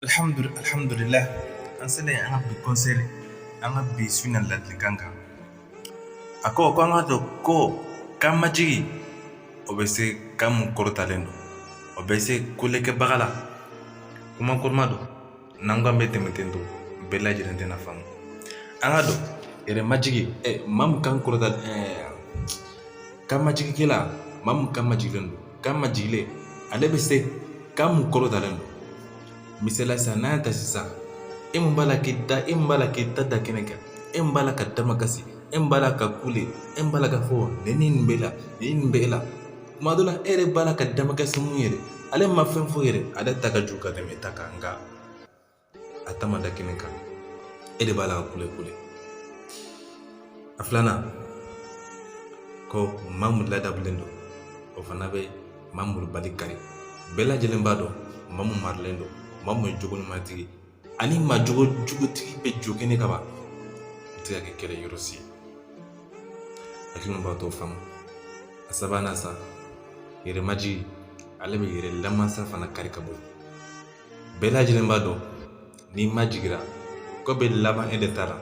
alhamdulillah an sele an ka bi conseil an ka bi su na ladilikan kan a ko ko an k'a dɔn ko kan majigi o bɛ se kan mun kɔrɔtalen don o bɛ se kulekɛbaga la kuma kɔrɔma don n'an ko an bɛ tɛmɛ ten tɔ bɛɛ lajɛlen tɛn'a faamu an k'a dɔn yɛrɛ majigi ɛ maa mun kan kɔrɔta kan majigikɛla maa mun kan majigilen don Kan majigilen ale bɛ se kan mun kɔrɔtalen don misaliya sisan n'an y'a ta sisan e mun b'a la k'i ta da kɛnɛ kan e mun b'a la ka damakasi e mun b'a la ka kule e mun b'a la k'a fɔ nin ni nin b'e la nin nin b'e la tuma dɔ la e yɛrɛ b'a la ka damakasi mun yɛrɛ ale ma fɛn fɔ yɛrɛ ale ta ka jugu ka tɛmɛ e ta kan nka a ta ma da kɛnɛ kan e de b'a la ka kule kule a filanan ko maa mun ladabulen don o fana bɛ maa malobali kari bɛɛ lajɛlen b'a dɔn maa mun marilen don maa mun ye jogo ɲumantigi ani maa jogo jugutigi bɛ jɔ kɛnɛ ka ban o tɛ ka kɛ kɛlɛ yɔrɔ si ye hakilima b'a tɔ faamu a sabanan sa yɛrɛmajigi ale bɛ yɛrɛ lamansa fana kari ka bɔ bɛɛ lajɛlen b'a dɔn n'i majigira ko bɛ laban e de ta la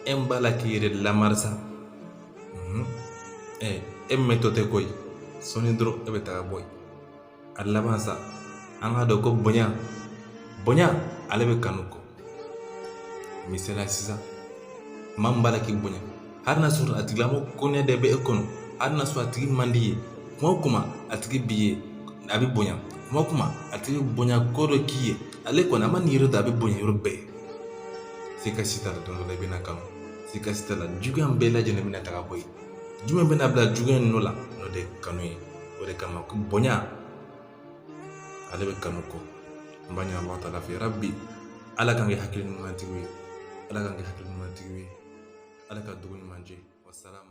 e min b'a la k'i yɛrɛ lamansa ɛ e min bɛ to ten koyi sɔɔni dɔrɔn e bɛ taga bɔ yen a laban sa an k'a dɔn ko bonya bonya ale bɛ kanu kɔ misaliya sisan maa min b'a la k'i bonya hali n'a sɔrɔ a tigilamɔgɔ kɔniya de bɛ e kɔnɔ hali n'a sɔrɔ a tigi man d'i ye tuma o tuma a tigi b'i ye a b'i bonya tuma o tuma a tigi bonya ko dɔ k'i ye ale kɔni a ma nin yɔrɔ ta a b'i bonya yɔrɔ bɛɛ siga si t'a la don dɔ la i bɛn'a kanu siga si t'a la juguya bɛɛ lajɛlen bɛna taga bɔ yen jumɛn bɛna bila juguya nɔ la n'o de kanu ye o de kama bonya ale bɛ kanu kɔ n b'a ɲini ala taala fɛ yarabi ala k'an kɛ hakili ɲumantigiw ye ala k'an kɛ hakili ɲumantigiw ye ala ka dugu ɲuman jɛ wasalamu